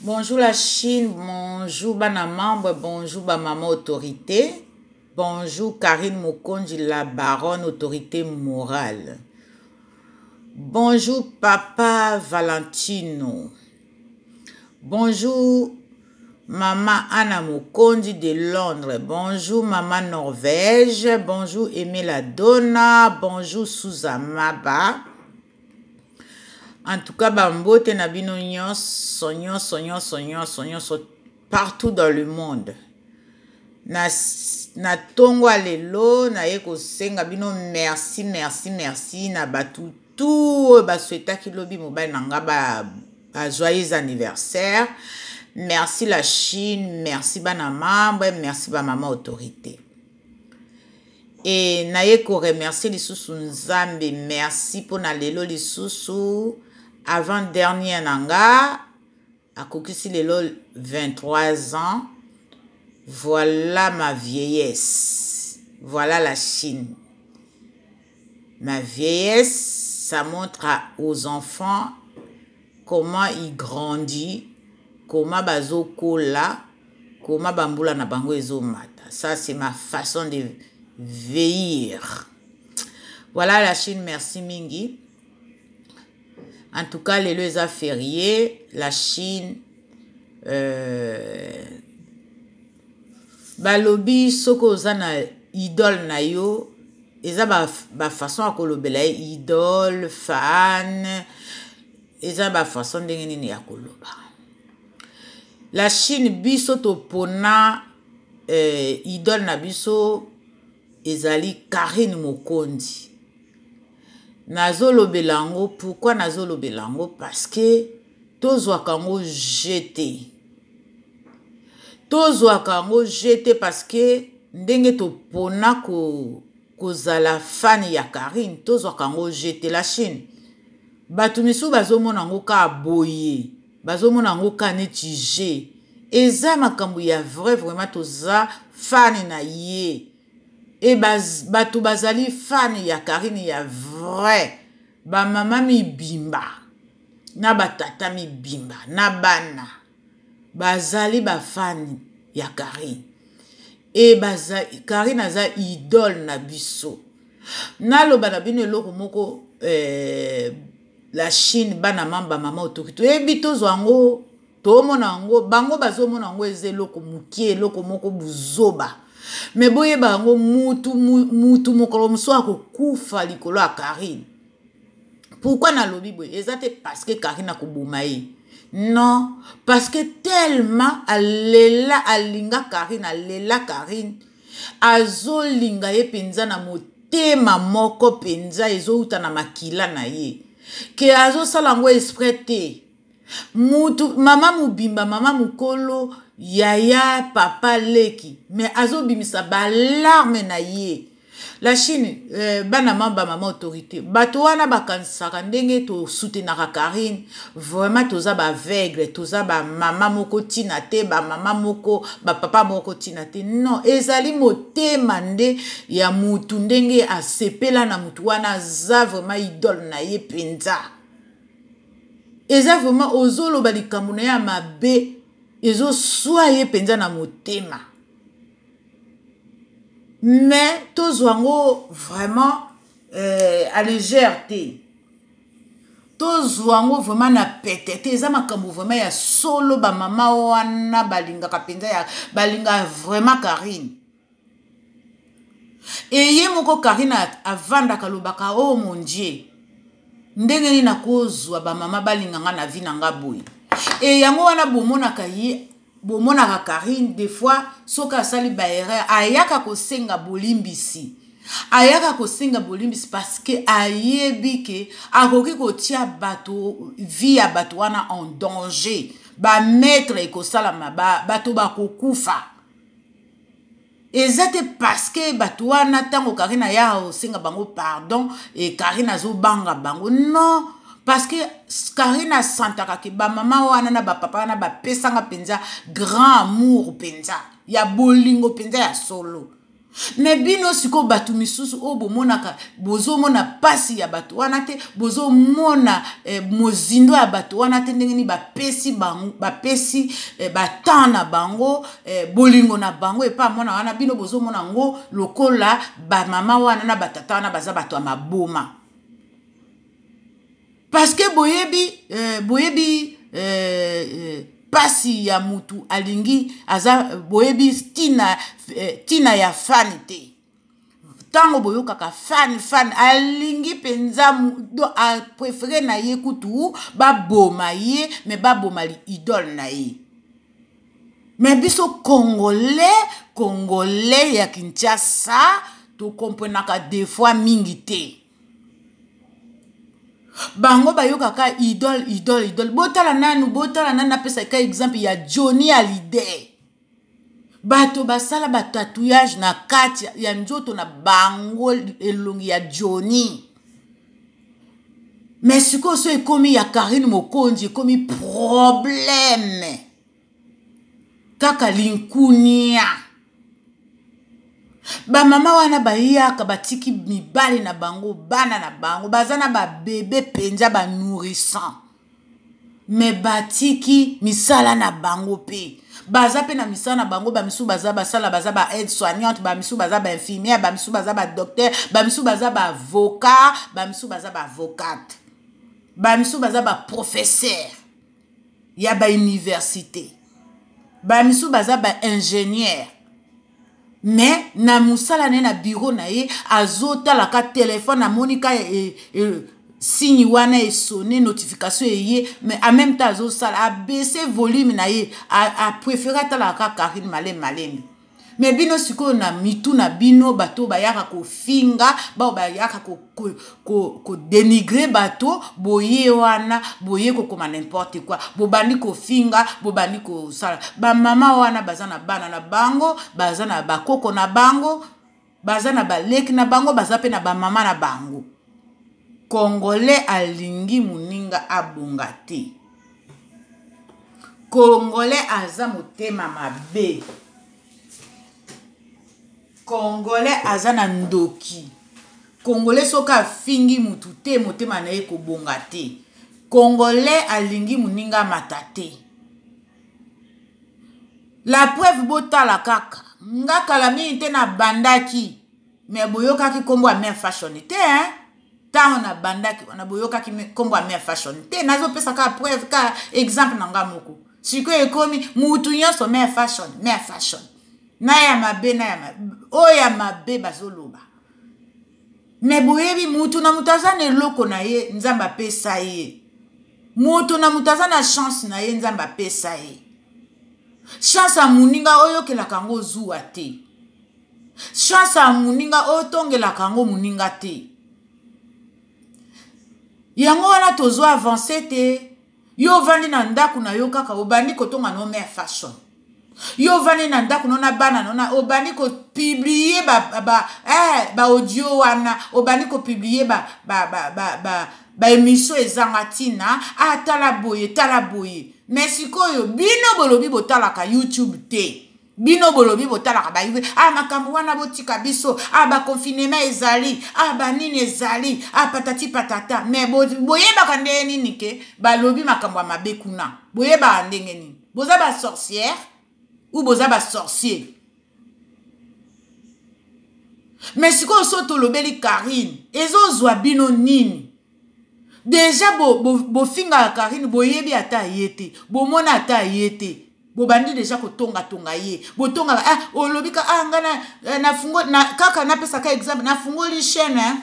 Bonjour la Chine, bonjour bana membre, bonjour ba maman autorité, bonjour Karine Mokonji la baronne autorité morale. Bonjour papa Valentino. Bonjour maman Anna Mokonji de Londres. Bonjour maman Norvège. Bonjour Emela Donna. Bonjour Sousa Maba. En tout cas, bambote na bino nyonso nyonso nyonso nyonso nyonso partout dans le monde. Na na tongo ya lelo naye kosenga bino merci merci merci na bato tu oyo baswetaki lobi mobali na nga ba, ba joyeux anniversaire merci la chine merci bana mambre merci bamama autorité e naye koremercie lisusu nzambe merci mpo na lelo lisusu avant dernier na nga akokisi lelo 23 ans voilà ma vieillesse voilà la chine Na vieillesse ça montre à aux enfants comment il grandit comment bazo kola comment ba mbula na bango ezo mata ça c'est ma façon de veillir voilà la chine merci mingi en tout cas lelo eza ferie la chine euh, balobi soki oza na idole na yo eza bafaçon ba ya kolobela ye idole fan eza bafaçon ndenge nini ya koloba la chine biso topona eh, idole na biso ezali karine mokonzi nazolobela yango pourkui nazolobela yango parce que tozwaka yango jete tozwaka yango je te parce que ndenge topona ko kozala fane ya karine tozwaka yango je te la chine bato misusu bazomona yango kaka boye bazomona yango kaka neti je eza makambo ya vrai vraiment toza fane na ye e bato bazali fane ya karine ya vrai bamama mibimba na batata mibimba na bana bazali bafani ya karine e baza karine aza idole na biso naloba na bino eloko moko eh, la chine bana mamba mama otoki toyebi tozwa yango tomona yango bango bazomona yango eza eloko mokie eloko moko buzoba me boyeba yango mutu mutu mokolo mosusu akokufa likolo ya karine pourquoi nalobi boye eza te parce que karine akoboma ye non parce que tellement alela alinga karine alela karine azolinga ye mpenza na motema moko mpenza ezowuta na makila na ye ke azosala yango esprit te mutu mama mobimba mama mokolo yaya papa leki me azobimisa balarme na ye la chine eh, bana mamba mama autorité bato wana bakanisaka ndenge tosutenaka karine vraiment toza baaveugle toza bamama moko ntina te bamama moko bapapa moko ntina te non ezali motema nde ya motu ndenge asepela na motu wana aza vraiment idole na ye mpenza eza vraiment ozoloba likambo na ye ya mabe ezoswa ye mpenza na motema mais tozwa yango vraiment euh, à légère te tozwa yango vraiment na pete te eza makambo vraiment ya solo bamama wana balingaka mpenza ya balinga vraiment karine eye moko karina avandaka alobaka o oh mon dieu ndenge nini nakozwa bamama balinga nga na vi na nga boye e yango wana bomonaka ye bomonaka karine des fois soki asali baerreur ayaka kosenga bolimbisi ayaka kosenga bolimbisi parce que ayebi ke akoki kotia bato vie ya bato wana en danger bamaître ekosalama bato bakokufa ba eza te parceke bato wana ntango karine aya osenga bango pardon e karine azobanga bango non parceke karine asantaka ke bamama wana na bapapa wana bapesanga mpenza grand amour mpenza ya bolingo mpenza ya solo me bino sikoyo bato misusu oyo bomonaka bozomona mpasi ya bato wana te bozomona eh, mozindo ya bato wana te ndenge nini bapesi, bapesi eh, batemp na bango eh, bolingo na bango epa mwana wana bino bozomona yango lokola bamama wana na batata wana baza bato ya maboma parceke boyebi eh, boyebi eh, eh, pasi ya mutu alingi aza boyebi tina, eh, tina ya fani te ntango boyokaka fan fan alingi mpenza aprefere na ye kutu baboma ye me baboma idole na ye me biso congolais congolais ya kinshasa tokomprenaka defoi mingi te bango bayokaka idole idole idole botala nanu botala nanu napesaka exemple ya johnny alidee bato basala batatouillage na kati ya nzoto na bango elongi ya joni me sikoyo so ekomi ya karine mokonzi ekomi probleme kaka linkunia bamama wana bayaka batiki mibali na bango bana na bango baza na babebe mpenza banourissant me batiki misala na bango mpe baza mpe na misala na bango bamisusu baza basala baza ba aide soignante bamisusu baza bainfirmière bamisusu baza badocteur bamisusu baza baavocat bamisusu baza baavocate bamisusu baza baprofesseur ya bauniversité bamisusu baza baingénieur mais na mosala na ye na biro na ye azotalaka telefone amoni ka e, e, signe wana esone notification eye mais en même temps azosala abaisse volume na ye apréféré atalaka karine maleme maleme me bino sikoyo na mitu na bino bato oyo bayaka kofinga baoyo bayaka ko ko, ko, ko denigre bato boye wana boye kokoma n'importe quoi bobandi kofinga bobandi kosala bamama wana baza na bana na bango baza na bakoko na bango baza na baleki na bango baza mpe na bamama na bango congolais alingi moninga abonga te congolais aza motema mabe congolais aza na ndoki congolais soki afingi mutu te motema na ye kobonga te congolais alingi moninga mata te la preuve botala kaka nga kala mingi te nabandaki me boyokaki nkombo ya mare fashion te hein? ntango nabandaki wana boyokaki nkombo ya mare fashion te nazopesa kaka preuve kaka exemple na nga moko sikoyo ekomi mutu nyonso mare fashion mare fashion na ya mabe na ya mabe oyo ya mabe bazoloba me boyebi moto na moto aza na eloko na ye nzambe apesa ye moto na moto aza na chance na ye nzambe apesa ye chance ya moninga oyokelaka yango ozuwa te chance ya moninga otongelaka yango moninga te yango wana tozwa avanse te yo ovandi na ndako na yo kaka obandi kotonga no mare fashion yo ovandi na ndako no na bana no na obandi kopiblie baaudio ba, eh, ba wana obandi kopiblie baemission ba, ba, ba, ba, ba ezanga ntina atala ah, boye tala boye me sikoyo bino bolobi botalaka youtube te bino bolobi botalaka bayive a ah, makambo wana botika biso a ah, baconfinema ezali a ah, banini ezali a patati patata me boyebaka ndenge nini ke balobi makambo ya mabe kuna boyebaka ndenge nini boza basorciere ou boza basorcier me sikoyo so tolobeli karine ezozwa bino nini deja bofingaka bo, bo karine boyebi ata ye te bomona ata ye te bobandi deja kotongatonga ye botongaka ah, olobika ah, nga na, eh, na, fungo, na kaka napesaka exemple nafungoli chaine eh?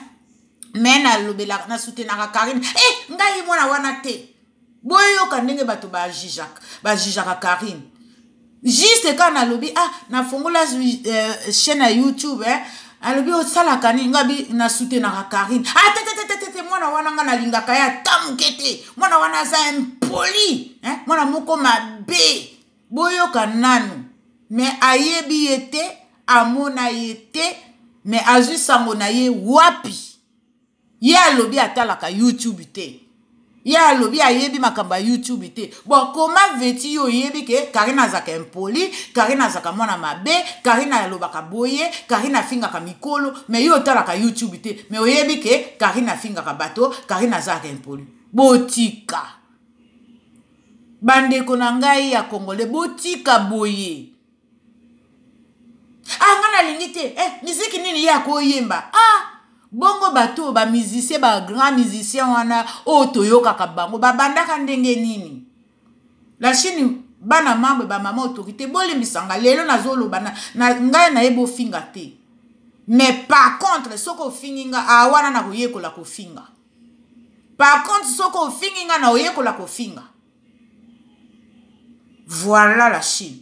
me nalobelaka nasutenaka karine e eh, ngai mwana wana te boyoka ndenge bato bajijaka karine juste kaka nalobi ah nafongola euh, chaîne ya youtube eh, alobi osalaka nini ngabi nasutenaka karine atetetetete ah, mwana wana nga nalingaka ye ata moke te mwana wana aza impoli eh, mwana moko mabe boyoka nanu me ayebi ye te amona ye te me azwi sango na ye wapi ye alobi atalaka youtube te ye alobi ayebi makambo ya youtube te bon koma veti yo oyebi ke karine azalaka impoli karine azalaka mwana mabe karine alobaka boye karine afingaka mikolo me yo otalaka youtube te me oyebi ke karine afingaka bato karine azalaka impoli botika bandeko na ngai ya kongole botika boye ah nga nalingi te eh, miziki nini ye akoyemba ah bongo bato oyo bamusicien bagrand musicien wana oyo toyokaka bango babandaka ndenge nini la chine bana mambre bamama autorité bolembisanga lelo nazoloba ngai naye bofinga te mais par contre soki ofingi nga a ah, wana nakoyekola kofinga par contre soki ofingi nga na oyekola kofinga voilà la chine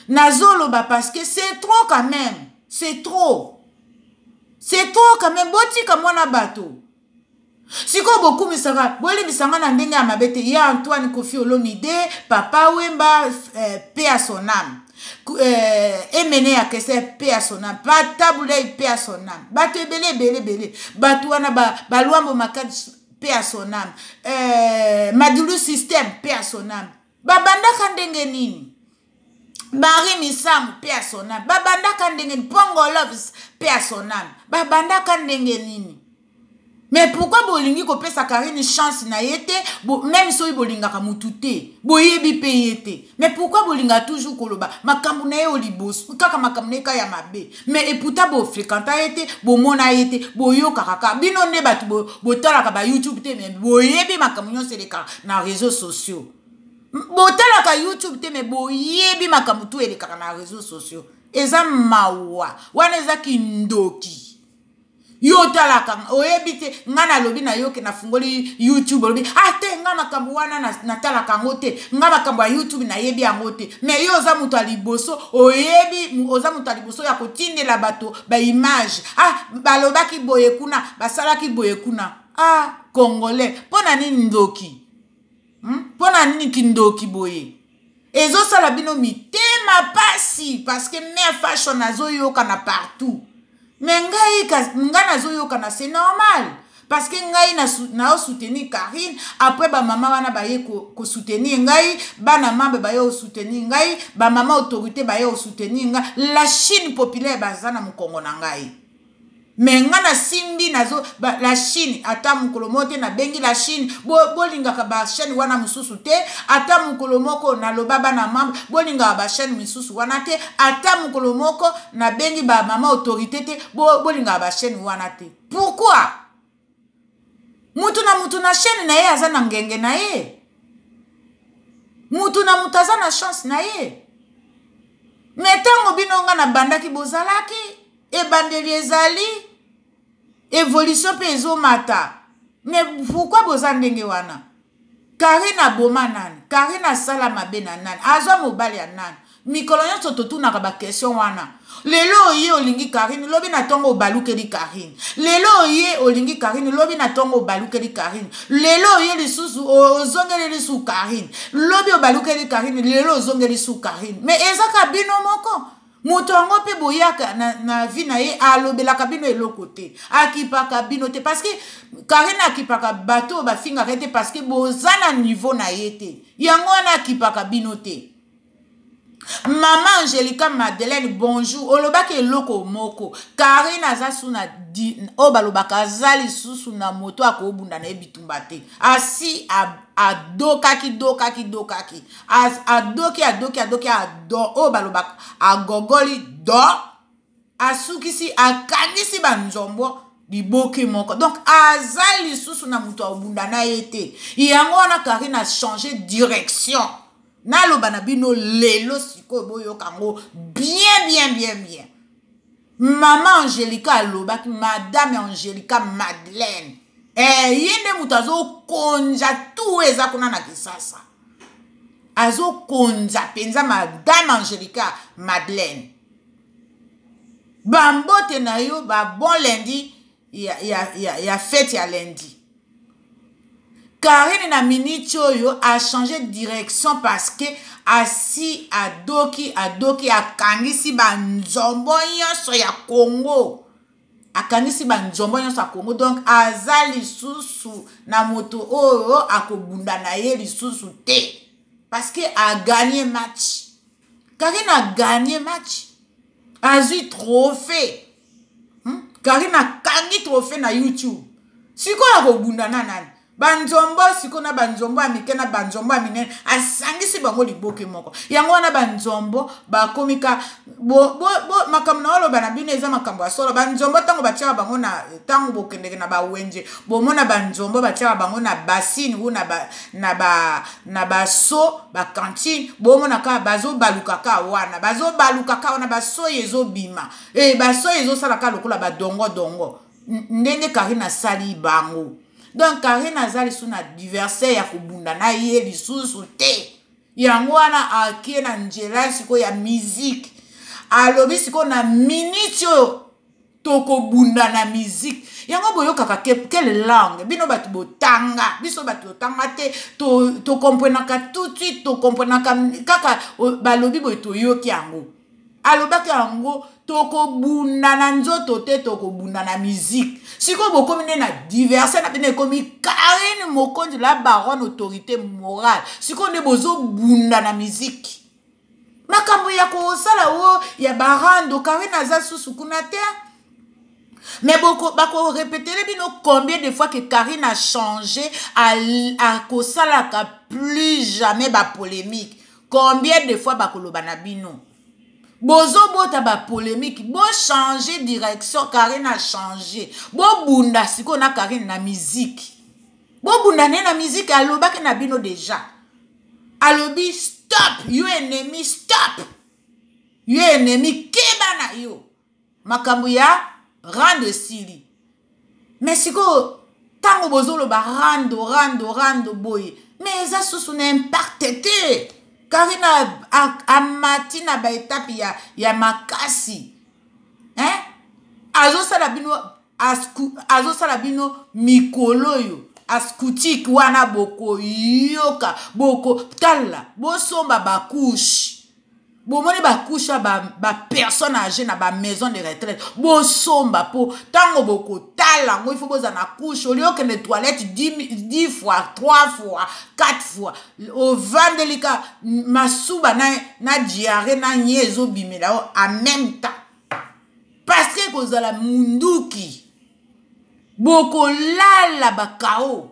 nazoloba parce que c'est trop quand même c'est trop c'est trop quand même botika mwana bato sikoyo bokumisaka bolimbisa nga na ndenge ya mabe te ye antoine kofi olomide papa wemba eh, pe ya son ame eh, emene ya kese pe ya son ame pa tabulei pe ya son ame bato ebele ebele ebele bato wana balwambo ba makadi paix à son âme euh, madulu système paix à son âme babandaka ndenge nini marie misamu mpe ya son âme babandaka ndenge nini pongo loves mpe ya son âme babandaka ndenge nini mais pourkui bolingi kopesa karine chance na ye te bo, meme soki bolingaka motu te boyebi mpe ye te mais pourquoi bolingaka toujours koloba makambo na ye o liboso kaka makambo na ye ka ya mabe mais eputa bofrekanta ye te bomona ye te boyokaka kaka bino nde bato botalaka bayoutube te mais boyebi makambo nyonso elekaka na réseau sociaux botalaka youtube te mais boyebi makambo tu elekaka na réseau sociaux eza mawa wana eza kindoki yo otalaka oyebi te ngai nalobi na yo ke nafungoli youtube olobi ah te ngai makambo wana natalaka yango te ngai makambo ya youtube nayebi yango te mai yo oza moto ya liboso oyebi oza moto ya liboso ya kotindela bato baimage ah balobaki boye kuna basalaki boye kuna ah congolais mpo na nini ndoki mpo hmm? na nini kindoki boye ezosala bino mitema mpasi parceke mare fashion azoyokana partout me ngai ngai nazoyokana se normal parceke ngai naosoutenir karine apres bamama wana baye kosoutenir ngai bana mambe baye osoutenir ngai bamama autorité baye osoutenir ngai la chine populaire baza na mokongo na ngai me nga nasimbi nazo la chine ata mokolo moko te nabengi la chine bolingaka bo bachaine wana mosusu te ata mokolo moko naloba bana mambre bolingaka bachaine misusu wana te ata mokolo moko nabengi bamama autorité te bolingaka bachaine wana te pourquoi mutu na mutu na chaîne na ye aza na ngenge na ye mutu na mutu aza na chance na ye me ntango bino nga nabandaki bozalaki ebandeli ezali evolution mpe ezomata me pourkui boza ndenge wana karine aboma nani karine asala mabe na nani aza mobali ya nani mikolo nyonso totunaka bakestion wana lelo oye olingi karine lobi na ntongo obalukeli karine lelo oye olingi karine lobi na ntongo obalukeli karine lelo oye lisusu ozongeli lisusu karine lobi obalukeli karine lelo ozongeli su karine me ezaka bino moko moto yango mpe boyaka na, na vi na ye alobelaka bino eloko te akipaka bino te parceke karine akipaka bato oyo bafingaka ye te parceke boza na nivo na ye te yango wana akipaka bino te mama angelika madeleine bonjour olobaki eloko moko karine aza su na oyo balobaka aza lisusu na moto akobunda na ye bitumba te asi adokaki dokaki dokaki adoki adoki adoki ado oyo balobaka agogoli do asukisi akangisi banzombo liboki moko donc aza lisusu na moto abunda na ye te yango wana karine achange direction naloba na bino lelo sikoyo boyoka yango bien bien bien bien mama angelica alobaki madame angelica madeleine eh, ye nde moto azokonja tu eza kuna na kisasa azokonza mpenza madame angelica madeleine bambote na yo babon lendi ya, ya, ya, ya fete ya lundi karine na miniti oyo achange direction parce que asi adoki adoki akangisi banzombo nyonso ya congo akangisi banzombo nyonso ya congo donc aza lisusu na moto oyo akobunda na ye lisusu te parce que aganye match karine aganye match azwi trophée hmm? karine akangi trofe na youtube sikoyo akobunda na nani banzombo sikoyo na banzombo ya mike na banzombo ya minene asangisi bango liboke moko yango wana banzombo bakomi ka makambo na oloba na bino eza makambo ya solo banzombo ntango batiaka bango na ntango bokendeke na bawenje bomona banzombo batiaka bango na basine u na baso bakantine bomona kaka bazobaluka kaka wana bazobaluka kaka wana basoyi ezobima e eh, basoyi ezosala ka lokola badongo dongo ndenge karine asali bango donc karine aza lisusu na diversaire ya kobunda na ye lisusu te yango wana akie na nzela sikoyo ya miziki alobi sikoyo na miniti oyo tokobunda na miziki yango boyokaka quelle langue bino bato botanga biso bato totanga te tokomprenaka to, tout de suite tokomprenaka kaka balobi boye toyoki yango alobaki yango tokobunda na nzoto te tokobunda na miziki sikoyo bokomi nde na diverse na bino ekomi karine mokonzi la baronne autorité morale sikoyo nde bozobunda na miziki makambo ya kosala o ya barando karine aza susu kuna te mais bakorepetele bino combien de fois que karine a change akosalaka plus jamais bapolémique combien de fois bakoloba na bino bozobota bapolemike bochange direction karine achange bobunda sikoyo na karine na miziki bobunda naye na miziki alobaki na bino deja alobi stop yo enemi stop yo enemi keba na yo makambo ya rando esili me sikoyo ntango bozoloba rando rando rando boye me eza susu na imparte te karina amati na baetape ya, ya makasi eh? azosala bino azosala bino mikolo oyo ascoutike wana bokoyoka bokotala bosomba bakushe bomoni bakusha bapersonne ba age na bamaison de retraite bosomba mpo ntango bokotala yango ifo bozala na kushe olie okende toilette 10 fois 3 fois 4 fois ovandeli ka masuba na, na diare na nye ezobimela yo en même temps parce que ekozala munduki bokolala bakao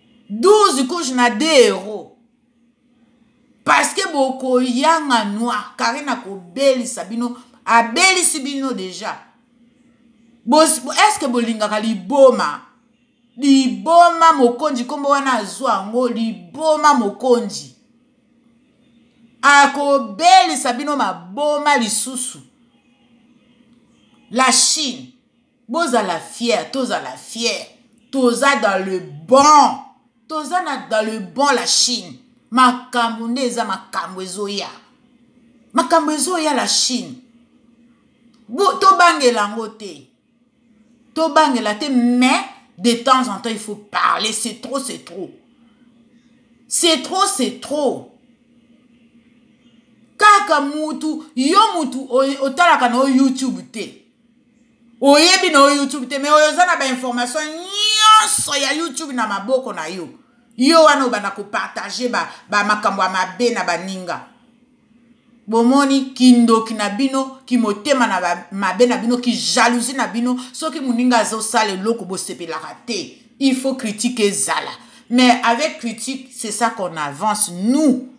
12 couche na 2 euros parce que bokoyanga noir karine akobelisa bino abelisi bino deja est ce que bolingaka liboma liboma mokonzi nkombo wana azwa yango liboma mokonzi akobelisa bino maboma lisusu la chine bozala fier tozala fier toza dans le bon toza na dans le bon la chine makambo nde eza makambo ezoya makambo ezoya la chine tobangela yango te tobangela te mais de temps en temps il faut parler c'est trop c'est trop c'est trop c'est trop kaka mutu yo mutu otalaka na yo youtube te oyebi na yo youtube te me oyo oza na bainformation nyonso ya youtube na maboko na yo yo wana obanda kopartage bamakambo ba ya mabe na baninga bomoni kindoki na bino kimotema na mabe na bino kijalousi na bino soki moninga azosala eloko bosepelaka te il faut critique ezala mais avec critique c'est ça qu'on avance nous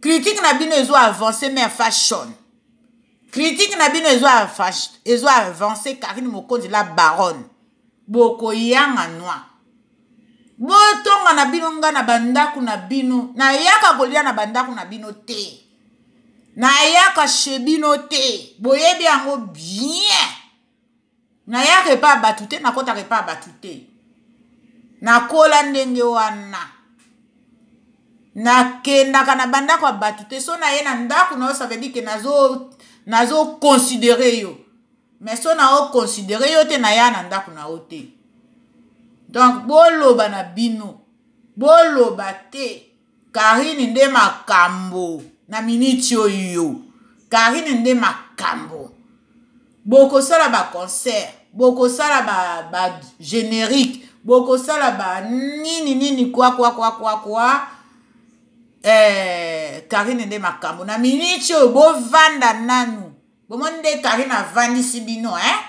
critique na bino ezo avance mais fashion critique na bino ezo ezo avance karine mokonzi la baronne bokoyanga nwa botonga na bino nga na bandako na bino nayaka kolia na bandako na bino te nayaka chez bino te boyebi yango bien nayaka epa ya bato te nakotaka epa ya bato te nakola ndenge wana nakendaka na bandako ya bato te so naye na ndako na yo ça veut dire ke nazo nazoconsidere yo mais so na oconsidere yo te naya na ndako na yo te donc boloba na bino boloba te Karine nde makambo na miniti oyo Karine nde makambo bokosala ba concert bokosala ba, ba générique bokosala ba nini nini kwa kwa kwa kwa kwa eh, Karine nde makambo na miniti oyo bovanda nanu bomoni nde karine avandisi bino e eh?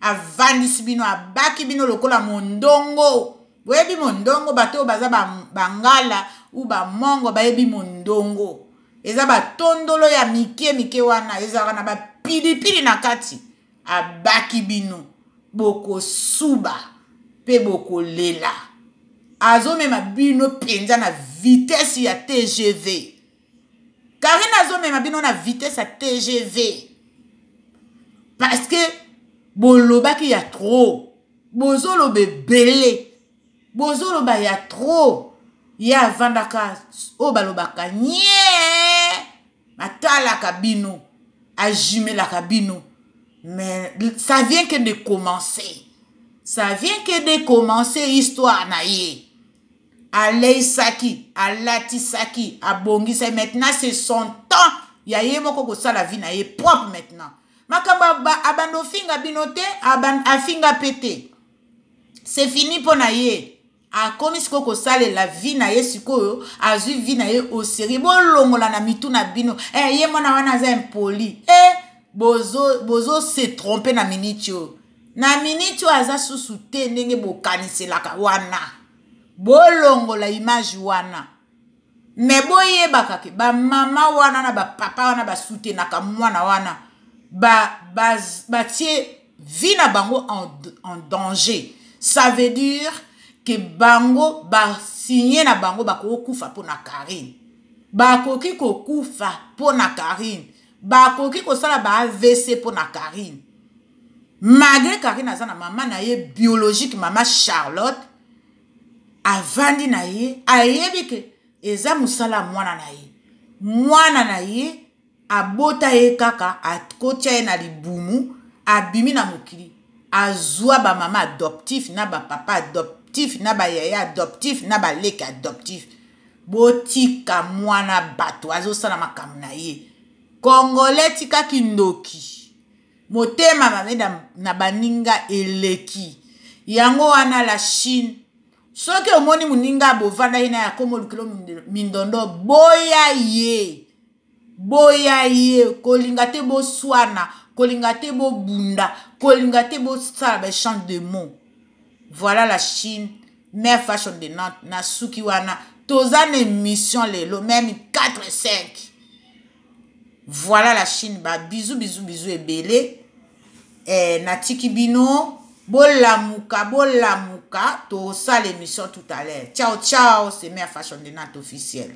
avandisi bino abaki bino lokola mondongo boyebi mondongo bato oyo baza bangala ba u bamongo bayebi mondongo eza batondolo ya mike mike wana ezalaka na bapilipili na kati abaki bino bokosuba mpe bokolela azomema bino mpenza na vitese ya tgv karine azomema bino na vitesse ya tgv parce que bolobaki ya trop bozoloba ebele bozoloba ya trop ye avandaka oyo balobaka nye atalaka bino ajumelaka bino mais ça vient que de commencer ça vient que de commencer histoire na ye aleisaki alatisaki abongisa maintenant c'est son temps ya ye moko kosala vie na ye propre maintenant makambo abanda ofinga bino te afinga mpe te c'est fini mpo na ye akomi sikoyo kosalela vi na ye sikoyo azwi vi na ye oseri bolongola na mitu na bino eh, ye mwana wana aza impoli e eh, bozo, bozo se trompe na miniti oyo na miniti oyo aza susu te ndenge bokaniselaka wana bolongola image wana me boyebaka ke bamama wana na bapapa wana basutenaka mwana wana batie ba, ba vie na bango en, en danger ça veut dire ke bango basigne na bango bakoki kokufa mpo na karine bakoki kokufa mpo na karine bakoki kosala ba avc mpo na karine malgré karine aza na mama na ye biologique mama charlotte avandi na ye ayebi ke eza mosala ya mwana na ye mwana na ye abota ye kaka akotya ye na libumu abimi na mokili azwa bamama adoptif na bapapa adoptif na bayaya adoptif na baleki adoptif botika mwana bato azosala makambo na ye kongole tika kindoki motema mabe na, na baninga eleki yango wana la chine soki omoni moninga bovanda ye na ya komo lukilo mindondo boya ye boya ye kolinga te boswana kolinga te bobunda kolinga te bosala baechange de mot voilà la chine mare fashion de nante nasuki wana toza na émission lelo meme 4 5 voilà la chine ba bisous bisous bisous ebele eh, natiki bino bolamuka bolamuka tosala émission tout à l'heure ciao ciao c'est mère fashion de nat officielle